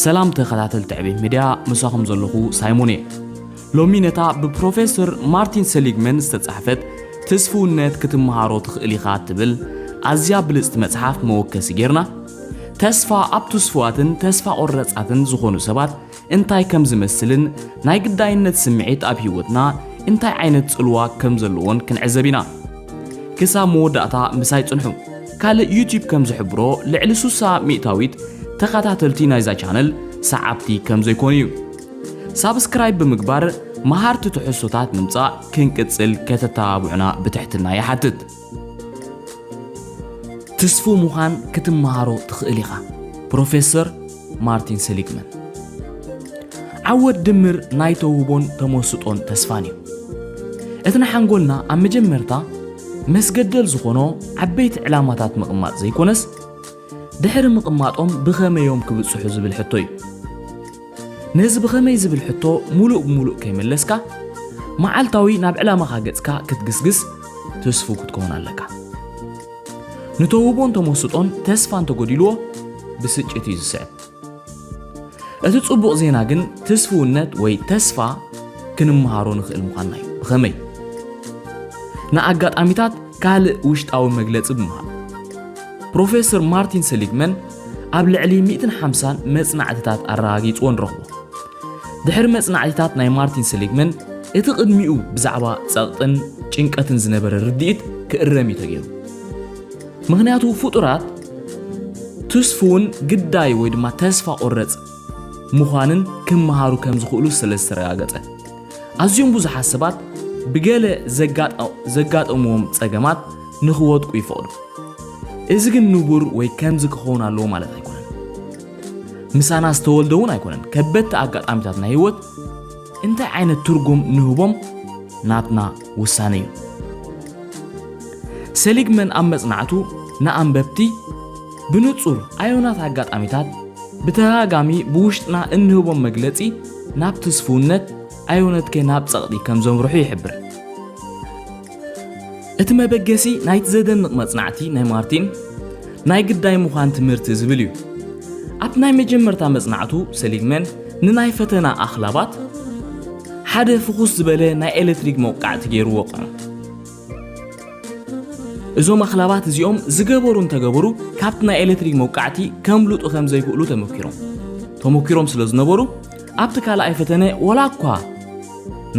ሰላም ተኸታተልቲ ዕቤት ሚድያ ምሳኹም ዘለኹ ሳይሞን እየ ሎሚ ነታ ብፕሮፌሰር ማርቲን ሰሊግመን ዝተጻሕፈት ትስፍውነት ክትመሃሮ ትኽእል ኢኻ እትብል ኣዝያ ብልጽቲ መጽሓፍ መወከሲ ጌርና ተስፋ ኣብ ትስፍዋትን ተስፋ ቆረጻትን ዝኾኑ ሰባት እንታይ ከም ዝመስልን ናይ ግዳይነት ስምዒት ኣብ ህይወትና እንታይ ዓይነት ጽልዋ ከም ዘለዎን ክንዕዘብ ኢና ክሳብ መወዳእታ ምሳይ ጽንሑ። ካልእ ዩቲብ ከም ዝሕብሮ ልዕሊ ሱሳ ሚእታዊት ተኻታተልቲ ናይዛ ቻነል ሰዓብቲ ከም ዘይኮኑ እዩ። ሳብስክራይብ ብምግባር መሃርቲ ትሕዝቶታት ምምጻእ ክንቅጽል ከተተባብዑና ብትሕትና ይሓትት። ትስፉው ምዃን ክትመሃሮ ትኽእል ኢኻ ፕሮፌሰር ማርቲን ሰሊግመን ዓወት ድምር ናይ ተውህቦን ተመስጦን ተስፋን እዩ። እቲ ንሓንጎልና ኣብ መጀመርታ መስገደል ዝኾኖ ዓበይቲ ዕላማታት ምቕማጥ ዘይኮነስ ድሕሪ ምቕማጦም ብኸመይ እዮም ክብጽሑ ዝብል ሕቶ እዩ። ነዚ ብኸመይ ዝብል ሕቶ ሙሉእ ብሙሉእ ከይመለስካ መዓልታዊ ናብ ዕላማኻ ገጽካ ክትግስግስ ትስፉው ክትከውን ኣለካ። ንተውህቦን ተመስጦን ተስፋ እንተጎዲልዎ ብስጭት እዩ ዝስዕብ። እቲ ጽቡቕ ዜና ግን ትስፍውነት ወይ ተስፋ ክንመሃሮ ንኽእል ምዃንና እዩ። ብኸመይ? ንኣጋጣሚታት ካልእ ውሽጣዊ መግለጺ ብምሃብ። ፕሮፌሰር ማርቲን ሰሊግመን ኣብ ልዕሊ ሚእትን ሓምሳን መጽናዕትታት ኣረጋጊጽዎ ንረኽቦ። ድሕሪ መጽናዕቲታት ናይ ማርቲን ሰሊግመን፣ እቲ ቅድሚኡ ብዛዕባ ጸቕጥን ጭንቀትን ዝነበረ ርድኢት ክእረም እዩ ተገይሩ። ምኽንያቱ ፍጡራት ትስፉውን ግዳይ ወይ ድማ ተስፋ ቆረጽ ምዃንን ክመሃሩ ከም ዝኽእሉ ስለ ዝተረጋገጸ፣ ኣዝዮም ብዙሓት ሰባት ብገለ ዘጋጠምዎም ጸገማት ንኽወድቁ ይፈቕዱ። እዚ ግን ንቡር ወይ ከምዚ ክኸውን ኣለዎ ማለት ኣይኮነን። ምሳና ዝተወልደ እውን ኣይኮነን ከበድቲ ኣጋጣሚታት ናይ ህይወት እንታይ ዓይነት ትርጉም ንህቦም ናትና ውሳነ እዩ ሰሊግመን ኣብ መጽናዕቱ ንኣንበብቲ ብንጹር ኣዮናት ኣጋጣሚታት ብተደጋጋሚ ብውሽጥና እንህቦም መግለጺ ናብ ትስፍውነት ኣይውነት ከ ናብ ጸቕጢ ከም ዘምርሑ ይሕብር። እቲ መበገሲ ናይቲ ዘደንቕ መጽናዕቲ ናይ ማርቲን፣ ናይ ግዳይ ምዃን ትምህርቲ ዝብል እዩ። ኣብቲ ናይ መጀመርታ መጽናዕቱ ሰሊግመን ንናይ ፈተና ኣኽላባት ሓደ ፍኹስ ዝበለ ናይ ኤሌክትሪክ መውቃዕቲ ገይሩ ወቕዖም። እዞም ኣኽላባት እዚኦም ዝገበሩ እንተገበሩ ካብቲ ናይ ኤሌክትሪክ መውቃዕቲ ከምልጡ ከም ዘይክእሉ ተመኪሮም ተመኪሮም ስለ ዝነበሩ ኣብቲ ካልኣይ ፈተነ ወላ እኳ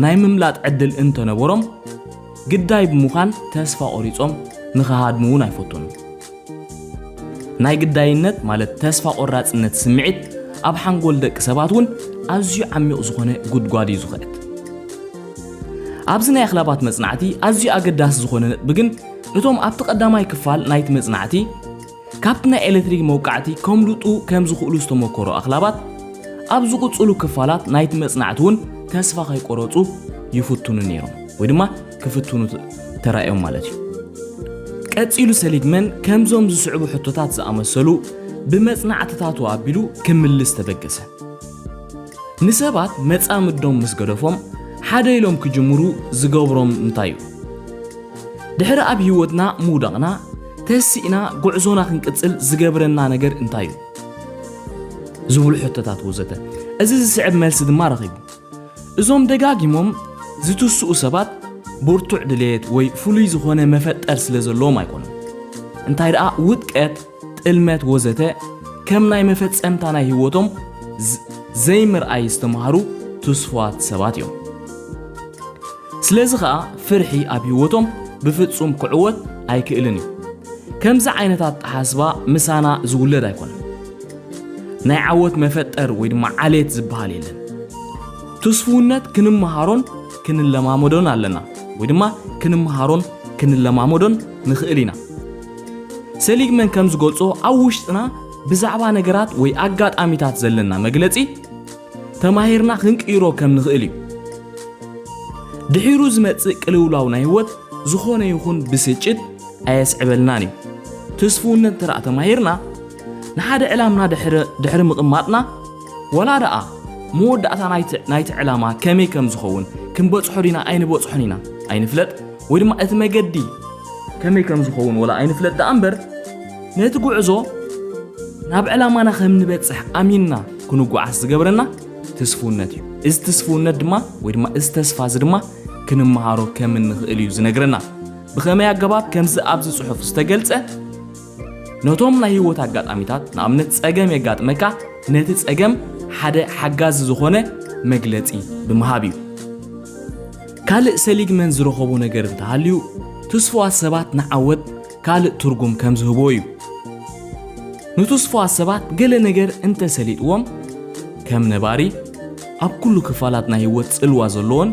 ናይ ምምላጥ ዕድል እንተነበሮም ግዳይ ብምዃን ተስፋ ቆሪጾም ንኽሃድሙ እውን ኣይፈቱን። ናይ ግዳይነት ማለት ተስፋ ቆራጽነት ስምዒት ኣብ ሓንጎል ደቂ ሰባት እውን ኣዝዩ ዓሚቕ ዝኾነ ጉድጓድ እዩ ዝኽዕት። ኣብዚ ናይ ኣኽላባት መጽናዕቲ ኣዝዩ ኣገዳሲ ዝኾነ ነጥቢ ግን እቶም ኣብቲ ቀዳማይ ክፋል ናይቲ መጽናዕቲ ካብቲ ናይ ኤለትሪክ መውቃዕቲ ከምልጡ ከም ዝኽእሉ ዝተመኮሩ ኣኽላባት፣ ኣብ ዝቕጽሉ ክፋላት ናይቲ መጽናዕቲ እውን ተስፋ ከይቆረጹ ይፍትኑ ነይሮም ወይ ድማ ክፍትኑ ተራእዮም ማለት እዩ። ቀጺሉ ሰሊግመን ከምዞም ዝስዕቡ ሕቶታት ዝኣመሰሉ ብመጽናዕትታቱ ኣቢሉ ክምልስ ተበገሰ። ንሰባት መጻምዶም ምስ ገደፎም ሓደ ኢሎም ክጅምሩ ዝገብሮም እንታይ እዩ? ድሕሪ ኣብ ህይወትና ምውዳቕና፣ ተሲእና ጉዕዞና ክንቅጽል ዝገብረና ነገር እንታይ እዩ? ዝብሉ ሕቶታት ወዘተ እዚ ዝስዕብ መልሲ ድማ ረኺቡ። እዞም ደጋጊሞም ዝትስኡ ሰባት ብርቱዕ ድሌት ወይ ፍሉይ ዝኾነ መፈጠር ስለ ዘለዎም ኣይኮኑን። እንታይ ደኣ ውድቀት፣ ጥልመት ወዘተ ከም ናይ መፈጸምታ ናይ ህይወቶም ዘይምርኣይ ዝተማሃሩ ትስፉዋት ሰባት እዮም። ስለዚ ኸኣ ፍርሒ ኣብ ህይወቶም ብፍጹም ክዕወት ኣይክእልን እዩ። ከምዚ ዓይነት ኣተሓስባ ምሳና ዝውለድ ኣይኮነን። ናይ ዓወት መፈጠር ወይ ድማ ዓሌት ዝበሃል የለን። ትስፉውነት ክንመሃሮን ክንለማመዶን ኣለና ወይ ድማ ክንመሃሮን ክንለማመዶን ንኽእል ኢና። ሰሊግመን ከም ዝገልጾ ኣብ ውሽጥና ብዛዕባ ነገራት ወይ ኣጋጣሚታት ዘለና መግለጺ፣ ተማሂርና ክንቅይሮ ከም ንኽእል እዩ። ድሒሩ ዝመጽእ ቅልውላው ናይ ህይወት ዝኾነ ይኹን ብስጭት ኣየስዕበልናን እዩ። ትስፍውነት እንተ ተማሂርና ንሓደ ዕላምና ድሕሪ ምቕማጥና ወላ ደኣ መወዳእታ ናይቲ ዕላማ ከመይ ከም ዝኸውን ክንበጽሖ ዲና ኣይንበጽሖን ኢና ኣይንፍለጥ ወይ ድማ እቲ መገዲ ከመይ ከም ዝኸውን ወላ ኣይንፍለጥ ደኣ እምበር ነቲ ጉዕዞ ናብ ዕላማና ከም ንበጽሕ ኣሚንና ክንጓዓዝ ዝገብረና ትስፉውነት እዩ እዚ ትስፉውነት ድማ ወይ ድማ እዚ ተስፋ እዚ ድማ ክንመሃሮ ከም እንኽእል እዩ ዝነግረና ብኸመይ ኣገባብ ከምዚ ኣብዚ ጽሑፍ ዝተገልጸ ነቶም ናይ ህይወት ኣጋጣሚታት ንኣብነት ጸገም የጋጥመካ ነቲ ጸገም ሓደ ሓጋዚ ዝኾነ መግለጺ ብምሃብ እዩ ካልእ ሰሊግመን ዝረኸቦ ነገር እንተሃልዩ ትስፉዋት ሰባት ንዓወት ካልእ ትርጉም ከም ዝህቦ እዩ። ንትስፉዋት ሰባት ገለ ነገር እንተ ሰሊጥዎም፣ ከም ነባሪ ኣብ ኩሉ ክፋላት ናይ ህይወት ጽልዋ ዘሎዎን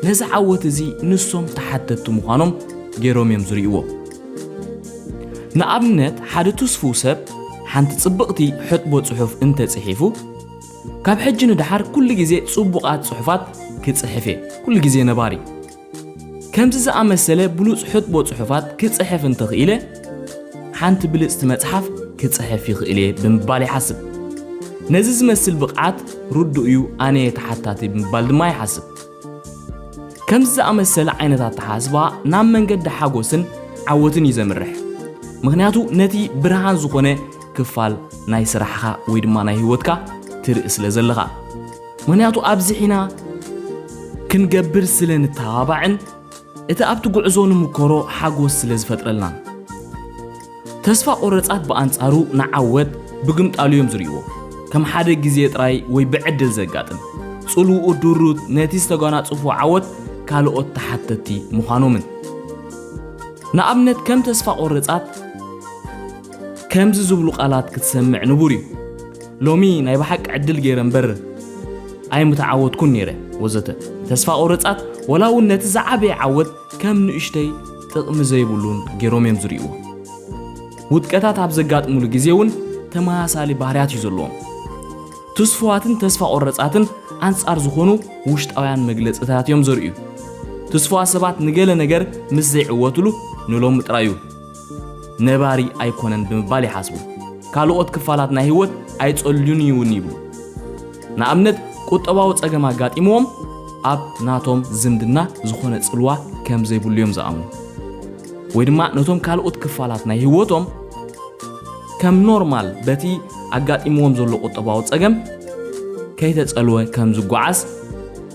ነዚ ዓወት እዚ ንሶም ተሓተቲ ምዃኖም ገይሮም እዮም ዝርእይዎ። ንኣብነት ሓደ ትስፉው ሰብ ሓንቲ ጽብቕቲ ሕጥቦ ጽሑፍ እንተ ጽሒፉ፣ ካብ ሕጂ ንደሓር ኩሉ ግዜ ጽቡቓት ጽሑፋት ክጽሕፍ እየ፣ ኩሉ ግዜ ነባሪ፣ ከምዚ ዝኣመሰለ ብሉጽ ሕጥቦ ጽሑፋት ክጽሕፍ እንተኽኢለ፣ ሓንቲ ብልጽቲ መጽሓፍ ክጽሕፍ ይኽእል እየ ብምባል ይሓስብ። ነዚ ዝመስል ብቕዓት ርዱእ እዩ ኣነ እየ ተሓታቲ ብምባል ድማ ይሓስብ። ከምዚ ዝኣመሰለ ዓይነት ኣተሓስባ ናብ መንገዲ ሓጎስን ዓወትን እዩ ዘምርሕ። ምኽንያቱ ነቲ ብርሃን ዝኾነ ክፋል ናይ ስራሕኻ ወይ ድማ ናይ ህይወትካ ትርኢ ስለ ዘለኻ። ምኽንያቱ ኣብዚሒና ክንገብር ስለ ንተባባዕን እቲ ኣብቲ ጉዕዞ ንምኮሮ ሓጎስ ስለ ዝፈጥረልናን። ተስፋ ቆረጻት ብኣንጻሩ ንዓወት ብግምጣሉ እዮም ዝርእይዎ፣ ከም ሓደ ግዜ ጥራይ ወይ ብዕድል ዘጋጥም። ጽልውኡ ድሩት ነቲ ዝተጓናጸፉዎ ዓወት ካልኦት ተሓተቲ ምዃኖምን። ንኣብነት ከም ተስፋ ቆረጻት፣ ከምዚ ዝብሉ ቃላት ክትሰምዕ ንቡር እዩ፣ ሎሚ ናይ ብሓቂ ዕድል ገይረ እምበር ኣይምተዓወትኩን ነይረ ወዘተ። ተስፋ ቆረጻት ወላ እውን ነቲ ዝዓበየ ዓወት ከም ንእሽተይ ጥቕሚ ዘይብሉን ገይሮም እዮም ዝርእይዎ። ውድቀታት ኣብ ዘጋጥሙሉ ግዜ እውን ተመሳሳሊ ባህርያት እዩ ዘለዎም። ትስፉዋትን ተስፋ ቆረጻትን ኣንጻር ዝኾኑ ውሽጣውያን መግለጽታት እዮም ዘርእዩ። ትስፉዋት ሰባት ንገለ ነገር ምስ ዘይዕወትሉ ንሎሚ ጥራይ እዩ። ነባሪ ኣይኮነን ብምባል ይሓስቡ። ካልኦት ክፋላት ናይ ህይወት ኣይጸልዩን እዩ እውን ይብሉ። ንኣብነት ቁጠባዊ ጸገም ኣጋጢምዎም ኣብ ናቶም ዝምድና ዝኾነ ጽልዋ ከም ዘይብሉ እዮም ዝኣምኑ። ወይ ድማ ነቶም ካልኦት ክፋላት ናይ ህይወቶም ከም ኖርማል በቲ ኣጋጢምዎም ዘሎ ቁጠባዊ ጸገም ከይተጸልወ ከም ዝጓዓዝ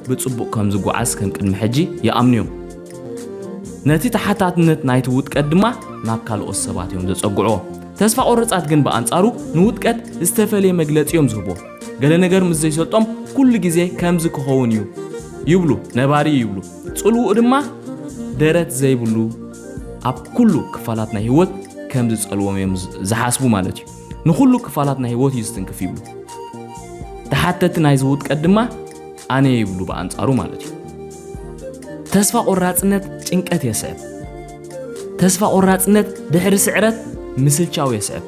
ብጽቡቕ ከም ዝጓዓዝ ከም ቅድሚ ሕጂ ይኣምኑ እዮም። ነቲ ተሓታትነት ናይቲ ውጥቀት ድማ ናብ ካልኦት ሰባት እዮም ዘጸግዕዎ። ተስፋ ቆረጻት ግን ብኣንጻሩ ንውጥቀት ዝተፈልየ መግለጺ እዮም ዝህብዎ። ገለ ነገር ምስ ዘይሰልጦም ኩሉ ግዜ ከምዚ ክኸውን እዩ ይብሉ፣ ነባሪ እዩ ይብሉ። ጽልውኡ ድማ ደረት ዘይብሉ ኣብ ኩሉ ክፋላት ናይ ህይወት ከም ዝጸልዎም እዮም ዝሓስቡ ማለት እዩ። ንኹሉ ክፋላት ናይ ህይወት እዩ ዝትንክፍ ይብሉ። ተሓተቲ ናይዚ ውጥቀት ድማ ኣነ ይብሉ ብኣንጻሩ ማለት እዩ። ተስፋ ቆራጽነት ጭንቀት የስዕብ። ተስፋ ቆራጽነት ድሕሪ ስዕረት ምስልቻው የስዕብ።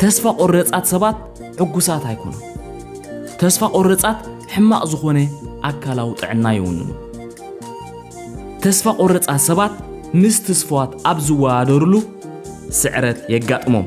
ተስፋ ቆረጻት ሰባት ሕጉሳት ኣይኮኑ። ተስፋ ቆረጻት ሕማቕ ዝኾነ ኣካላዊ ጥዕና ይውንኑ። ተስፋ ቆረጻት ሰባት ምስ ትስፍዋት ኣብ ዝወዳደርሉ ስዕረት የጋጥሞም።